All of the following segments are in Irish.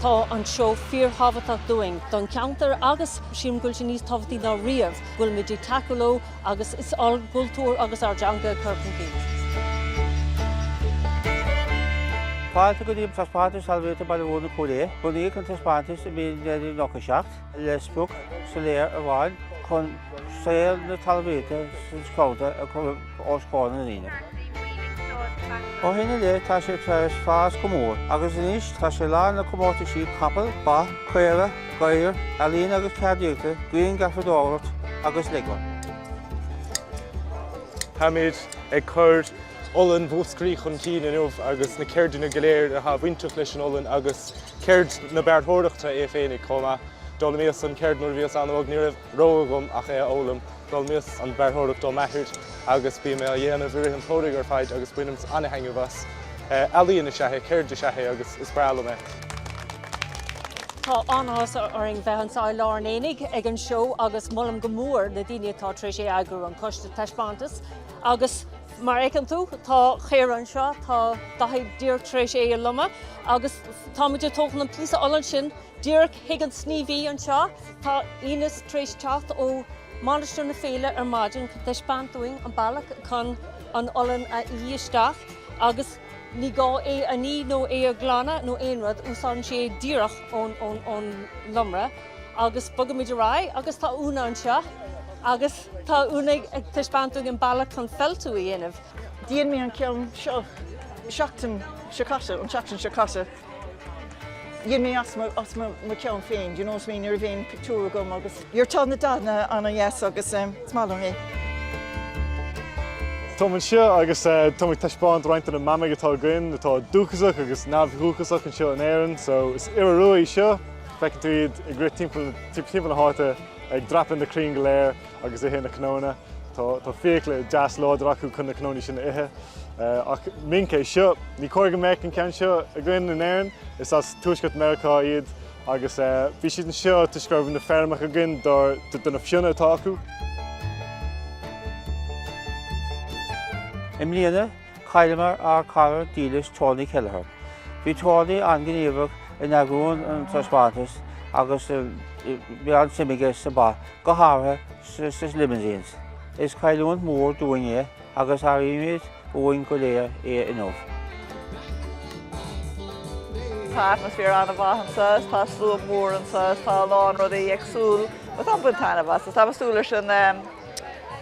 Tá an seó fíor-thábhachtach dúinn, don cheantar agus, sílim go bhfuil sé níos tábhachtaí ná riamh, go bhfuilimid ag tacú leo agus ár gcultúr agus ár dteanga a chur chun cinn. Fáilte go dtí an taispeántas Talmhaíochta Baile Bhuirne Cúil Aodha. Bunaíodh an taispeántas i mí an Mheithimh 97. le sprioc soiléir amháin chun saol na talmhaíochta sa gceantar a chur os comhair na ndaoine. Ó shin i leith tá sé tar eis fás go mór agus anois tá sé lán le comórtais capall, ba, caora, gadhar, ealaín agus ceardaíochta, grianghrafadóireacht agus Lego. Táimid ag cur. olann Mhúscraí chun cinn inniu agus na ceirdeanna go léir atá bainteach leis an olann agus ceird na bearrthóireachta é féinig chomh maith. D'fhoghlaimíos an cheird nuair a bhíos an-óg, ní raibh rogha agam ach é a fhoghlaim. D'fhoghlaimíos an bhearrthóireacht ó m'athair agus bím é á dhéanamh i rith an tsamhraidh ar fad agus bainim an-thaitneamh as. Ealaíon is ea é, ceird is ea é agus is breá liom é. Tá an-áthas orainn bheith anso i lár an aonaigh ag an seó agus molaim go mór na daoine atá tar éis é a eagrú, an Coiste Taispeántas, Agus mar a fheiceann tú, tá caora anseo, tá Dáithí díreach tar éis é a lomadh agus táimid ag tógáil an píosa olann sin díreach chuig an sníomhaí anseo. Tá Ines tar éis teacht ó Mainistir na Féile ar maidin chun taispeáint dúinn an bealach chun an olann a fhí isteach agus ní gá é a ní nó é a ghlanadh nó aon rud, úsáideann sé díreach ón lomra. Agus bogaimid ar aghaidh agus tá Úna anseo agus tá Úna ag taispeáint dúinn an bealach chun feiltiú a dhéanamh. Dhein mé an ceann seo seachtain seo caite, an tseachtain seo caite. Dhein mé as mo, as mo, mo ceann féin, do you know what I mean, ní raibh aon pictiúr agam agus your tá na dathanna ana dheas agus um, is maith liom é. Táim anseo agus eh, táim ag taispeáint roinnt de na mamaigh atá againn atá dúchasach agus neamhdhúchasach anseo in Éirinn, so is iora rua é seo Feiceann tú iad ag rith timpeall na háite, ag dreapadh na crainn go léir agus ag ithe na cnónna. Tá fiacla deas láidir acu chun na cnónna sin a ithe. Ach minc é seo. Ní cóir go mbeadh an ceann seo againn in Éirinn. Is as Tuaisceart Meiriceá iad agus bhí siad anseo toisc go raibh na feirmeacha againn do na fionnadh atá acu. I mbliana, Chailleamar ár cara dílis Tony Kelleher. Bhí Tony an-ghníomhach in eagrú an taispeántais agus bhí an-suim aige sna ba, go háirithe sna limousines. Is cailliúint mhór dúinn é agus airímid uainn go léir é inniu. Tá atmaisféar an-mhaith anseo, tá slua mór anseo, tá a lán rudaí ar siúl, táim ag baint taitneamh as. Tá mé súil leis an.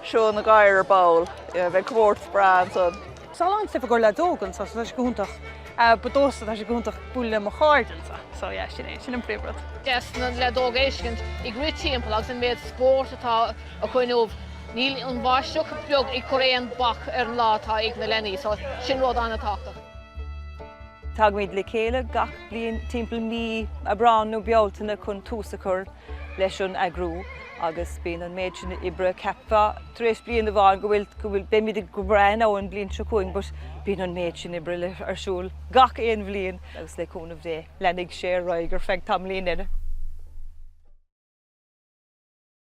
Seo na gadhair ar ball. Bheidh comórtas breá ansan. Tá an t-aos óg anseo so tá sé go hiontach. But domsa tá sé go hiontach bualadh le mo chairde anseo so yeah sin é, sin an príomh rud. deas na leaids óga a fheiscint ag rith timpeall agus an méad spóirt atá acu inniu. Níl an bháisteach beag ag cur aon bhac ar an lá atá ag na leanaí so sin rud an-tábhachtach. Tagaimid le chéile gach bliain timpeall mí Aibreán nó Bealtaine chun tús a chur leis an eagrú agus bíonn an méid sin oibre, cheapfá tar éis bliain amháin go bhfuil, go bhfuil, beimid go breá don bhliain seo chugainn but bíonn an méid sin oibre le, ar siúl gach aon bhliain agus le cúnamh Dé, leanfaidh sé ar aghaidh ar feadh tamallín eile.